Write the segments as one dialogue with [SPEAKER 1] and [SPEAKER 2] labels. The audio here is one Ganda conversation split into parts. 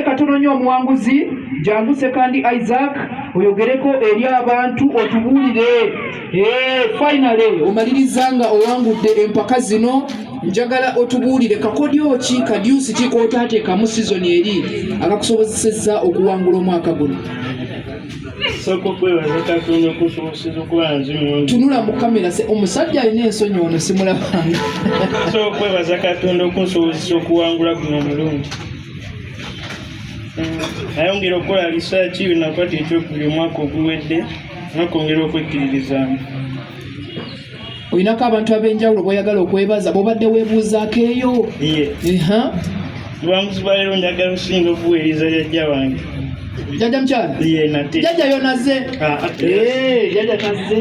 [SPEAKER 1] katononye omuwanguzi jangu sekandi isaac oyogereko eri abantu otubuulire eh, finale omaliriza nga owangudde empaka zino njagala otubuulire kakodyo ki kadyusi ki kotaateekamu sizoni eri akakusobozesezza okuwangula omwaka guno tunula mu kamera omusajja alina ensonyi ono simulabanga okwebaza
[SPEAKER 2] katonda okunsobozesa okuwangula guno omulundi nayongera okukola risaaki binakwata ekyokubiri omwaka oguwedde nakwongera okwekkiririzaamu
[SPEAKER 1] olinako abantu ab'enjawulo boyagala okwebaza bobadde webuuzaako eyo lwamuzi
[SPEAKER 2] lwa leero njagala okusinga okuweereza jajja wange jajja
[SPEAKER 1] mukyala jajja yonaze ah, ah, eh, jajja taze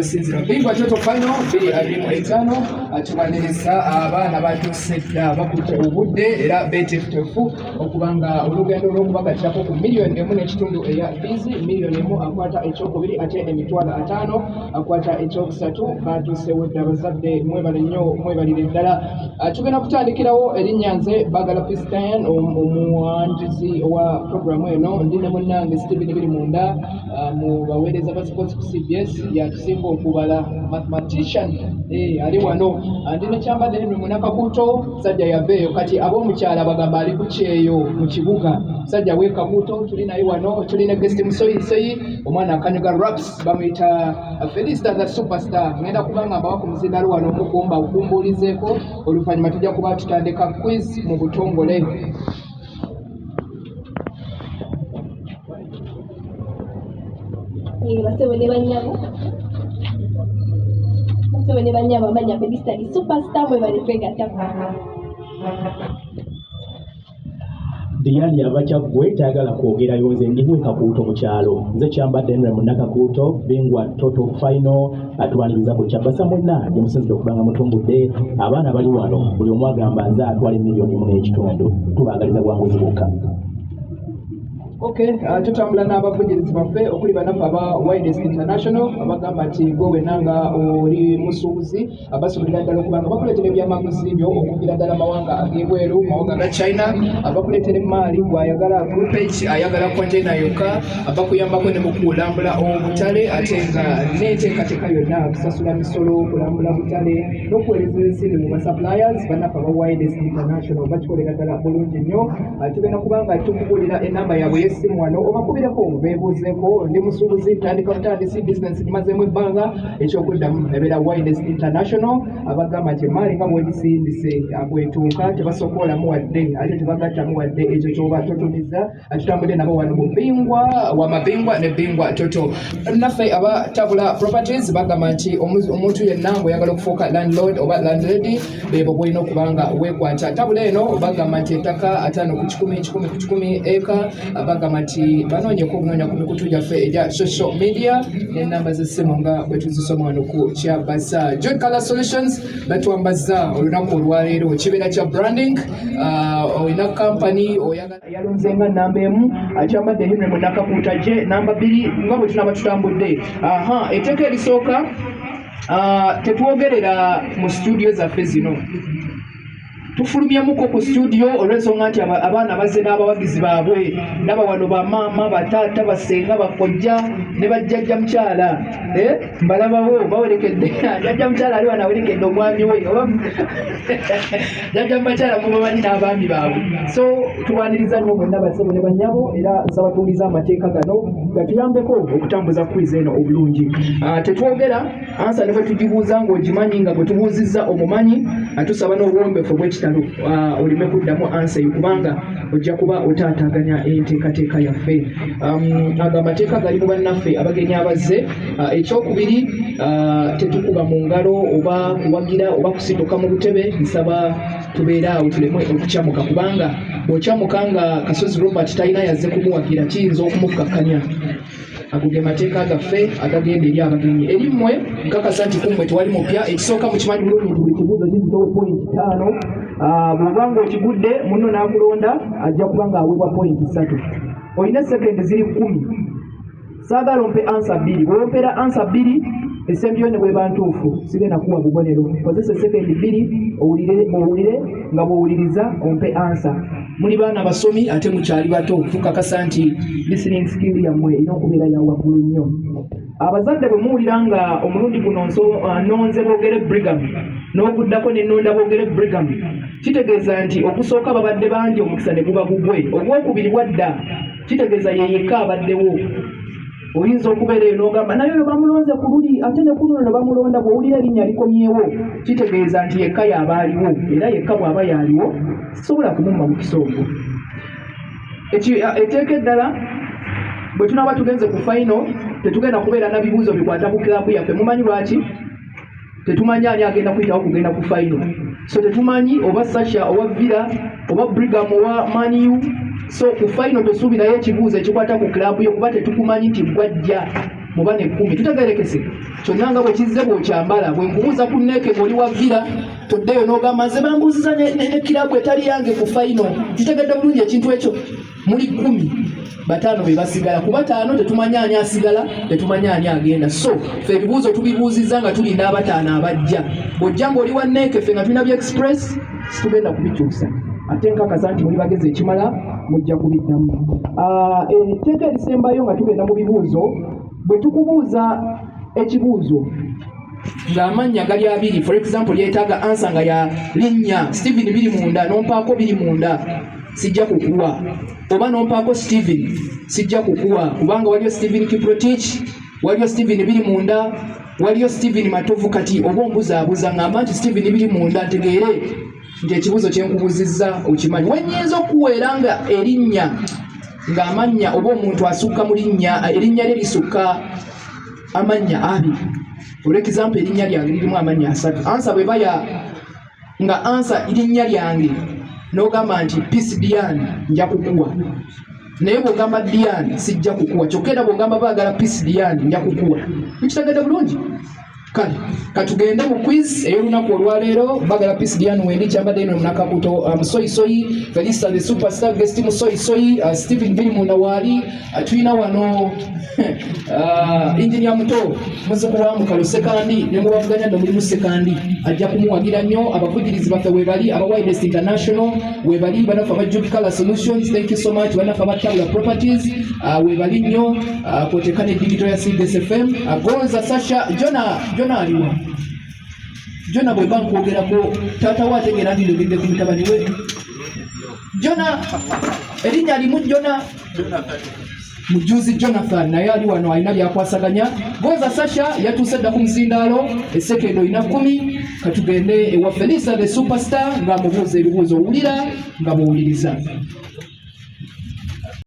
[SPEAKER 1] byosinzira bingwa kyoto fino biri abiri mu etaano tubaniriza abaana batuuse dda bakutte obudde era betefutefu okuba nga olugendo lw'okubagatirako ku miliyoni emu n'ekitundu eya bizi miliyoni emu akwata ekyokubiri ate emitwalo ataano akwata ekyokusatu batuusewo dda abazadde mwebale nnyo mwebalire ddala Ah, tugenda kutandikirawo erinnya nze bagala pistan omuwanjuzi owa puroguramu eno ndi ne munnange stephen biri munda ah, mu baweereza ba sports ku cbs yatusinga okubala mathematician eh, ali wano ah, ndi nekyambadde nino munakakuto sajja yaveeyo kati ab'omukyala bagamba ali ku kyeyo mu kibuga sajja wekakuto tuli naye wano tuli ne gesti musoyisoyi omwana akanyuga raps bamuyita felisita the superstar ngenda kubanga mbawa ku muzindalo wano omukumba okumbuulizeeko oluvannyuma tujja kuba tutandika quiz mu butongole basebo ne banyabo
[SPEAKER 3] basebo ne banyabo amanya felisita the superstar mwe bali kwegattako
[SPEAKER 4] Diane yabakya gwe tayagala kwogerayo nze ndimu ekakuuto mu kyalo nze kyambadde nre munnakakuuto bingwa toto fino atwaniriza ku kyabasa mwenna gyemusinzira okubanga mutumbudde abaana bali wano buli omu agamba nze atwala emiliyoni mu n'ekitundu tubaagaliza bwanguzi bukka
[SPEAKER 1] Okay, uh, tutambula n'abavujirizi baffe okuli banaffe aba Wildest International abagamba nti gwe wenna nga oli musuubuzi abasobolera ddala okuba nga bakuleetera ebyamaguzi byo okugira ddala mawanga ag'ebweru mawanga ga china abakuleetera emaali gwayagala group age ayagala containa yokka abakuyambako ne mukulambula obutale ate nga n'enteekateeka yonna kusasula misolo okulambula butale n'okuweereza ensimbi mu basuppliers bannaffe aba wireless international bakikolera ddala bulungi nnyo tugenda kuba nga tukubuulira enamba yaabwe y'essimu wano obakubireko beebuuzeeko ndi musuubuzi ntandika butandisi bizinensi gimazeemu ebbanga ekyokuddamu nabeera wines international abagamba nti emaali nga bwegisindise bwetuuka tebasokoolamu wadde ate tebagattamu wadde ekyo kyoba totumiza tutambudde nabo wano mu bingwa wa mabingwa ne bingwa toto naffe aba tabula properties bagamba nti omuntu yenna ngweyagala okufuuka landlord oba landlady bebo bwolina okubanga wekwata tabula eno bagamba nti ettaka ataano ku kikumi kikumi ku kikumi eka bagamba nti banoonyeko okunoonya ku mikutu gyaffe egya social media n'ennamba z'essimu nga bwe tuzisoma wano ku kyabasa john color solutions batwambaza olunaku olwaleero kibeera kya branding ah, olina kampany oyayalonze nga namba emu akyambadde henry munakakuuta gye namba bbiri nga bwe tunaba tutambudde aha etteeka erisooka ah, tetwogerera mu situdiyo zaffe zino tufulumyemuko ku studio olw'ensonga nti abaana bazze n'abawagizi baabwe ndaba wano bamaama bataata basenga bakojja ne bajjajja mukyala eh, mbalabawo bawerekedde jajja mukyala ali wano awerekedde omwami we oba jajja mubakyala mubamanyi n'abaami baabwe so tubaniriza nnyo bonna basebo ne banyabo era nsaba tuwuliza amateeka gano gatuyambeko okutambuza kwiza eno obulungi ah, tetwogera ansa ne bwe tugibuuza ng'ogimanyi nga bwe tubuuzizza omumanyi atusaba n'obuwombefu obw'ekitalo ah, oleme kuddamu ansa eyo kubanga ojja kuba otaataaganya enteekateeka yaffe um, ago amateeka gali mu bannaffe abagenyi abazze ah, ekyokubiri ah, tetukuba mu ngalo oba kuwagira oba kusituka mu butebe nsaba tubeere awo tuleme okukyamuka kubanga bw'okyamuka nga kasozi robert talina yazze kumuwagira kiyinza okumukkakkanya ago ge mateeka gaffe agagenda eri abagenyi eri mmwe nkakasa nti kummwe tewali mupya ekisooka mukimanyi bulungi buli kibuuzo kizitowe pointi taano ah, bw'oba ng'okigudde munno n'akulonda ajja kuba ng'aweebwa pointi ssatu olina sekendi ziri kkumi saagala ompe ansa bbiri bw'ompera ansa bbiri esembyeyo ne bweba ntuufu sigenda kuwa bubonero kozesa sekendi bbiri owulire nga bw'owuliriza ompe ansa muli baana basomi ate mukyali bato tukakasa nti listening skill yammwe erina okubeera ya waggulu nnyo abazadde bwe muwulira nga omulundi guno uh, nonze boogere brigam n'okuddako ne nonda boogere brigam kitegeeza nti okusooka babadde bangi omukisa ne guba gugwe ogwokubiri bwadda kitegeeza yeyekka abaddewo oyinza okubeera eyo n'ogamba naye oyo bamulonze ku luli ate ne kuno no bamulonda bw'owulira erinnya likomyewo kitegeeza nti yekka y'aba aliwo era yekka bw'aba y'aliwo sobola kumumma mukisa ogwo eteeka eddala bwe tunaaba tugenze ku fayino tetugenda kubeera na bibuuzo bikwata ku kilabu yaffe mumanyi lwaki tetumanyi ani agenda kuyitawo kugenda ku fayino so tetumanyi oba sasha oba vira oba brigam owa maniu so ku fayino tosuubirayo ekibuuzo ekikwata ku kilabu yo kuba tetukumanyi nti gwajja muba nekkumi tutegerekese kyonna nga bwe kizze bw'okyambala bwe nkubuuza ku neeke ng'oli wa vira toddeyo n'ogamba nze bambuuziza ne kirabu etali yange ku fayino kitegedde bulungi ekintu ekyo muli kumi bataano be basigala ku bataano tetumanya ani asigala tetumanya ani agenda so fe ebibuuzo tubibuuzizza nga tulinda abataano abajja bw'ojja ng'oli wa neeke fe nga tulina bya express situgenda kubikyusa ate nkakasa nti muli bagezi ekimala mujja kubiddamu ah, etteeka erisembayo nga tugenda mu bibuuzo bwe tukubuuza ekibuuzo ng'amannya gali abiri for example yeetaaga ansa nga ya linnya steven biri munda nompaako biri munda sijja kukuwa oba nompaako steven sijja kukuwa kubanga waliyo steven kiprotich waliyo steven biri munda waliyo steven matovu kati oba ombuzaabuza ng'amba nti steven biri munda ntegeere nti ekibuuzo kyenkubuzizza okimanyi wenyinza okuweera nga erinnya ng'amannya oba omuntu asukka mu linnya erinnya lye lisukka amannya abiri for example erinnya lyange lirimu amannya asatu ansa bwe baya nga ansa erinnya lyange n'ogamba nti peace dian nja kukuwa naye bwogamba dian sijja kukuwa kyokka era bwogamba baagala peace dian nja kukuwa ekitagenda bulungi kale katugende mu quiz ey'olunaku olwaleero bagala peace dian wendi kyambadde ino munakakuto uh, musoyisoyi felisa the superstar guest musoyisoyi uh, stephen biri munda waali atulina wano uh, injinia muto muziku wa mukalo sekandi ne mubavuganya no mulimu sekandi ajja kumuwagira nnyo abavugirizi baffe webali aba widest international webali banafe aba jubi color solutions thank you so much banafe aba tabula properties uh, webali nnyo uh, koteka ne digital ya cds fm uh, gonza sasha jona jona aliwa jona bweba nkwogerako taata we ategeera ndi ndogedde ku mutabani we jona erinnya limu jona mujuzi jonathan naye ali wano alina byakwasaganya goza sasha yatuuse dda ku muzindaalo esekendo olina kumi katugende ewa felisa the superstar ng'amubuuza ebibuuzo owulira nga muwuliriza